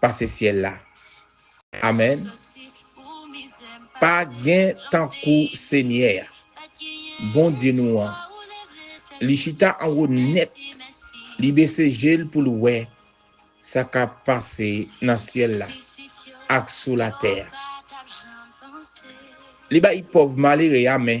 pase syèl la amen pa gen tankou senyè a Bondye nou an li chita anwo nèt li bese jel poul wè sa kap pase nan syèl la ak sou latè a li bay pòv malere a men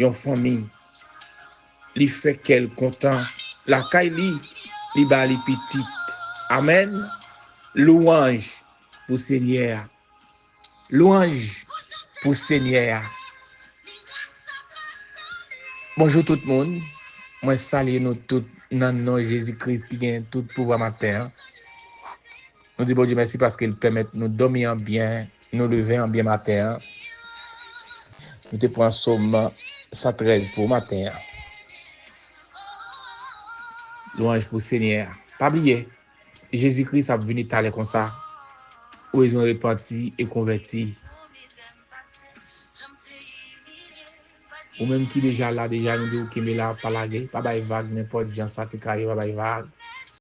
yon fanmi li fè kèl kontan lakay li li ba li pitit amen louanj pou senyè a louanj pou senyè a bonjou tout moun mwen salye nou tout nan non jezi kris ki gen tout pouvwa maten an. Nou di Bondye mèsi paske l pèmèt nou dòmi an byen, nou leve an byen maten an. Nou te pran Som 113 pou maten an. Lwanj pou Senyè a. Pa bliye, Jezi Kris ap vini talè konsa, ou bezwen repanti e konvèti. Ou menm ki deja la deja, nou di w kenbe la, pa lage, pa bay vag nenpòt jan sa te ka ye, pa bay vag.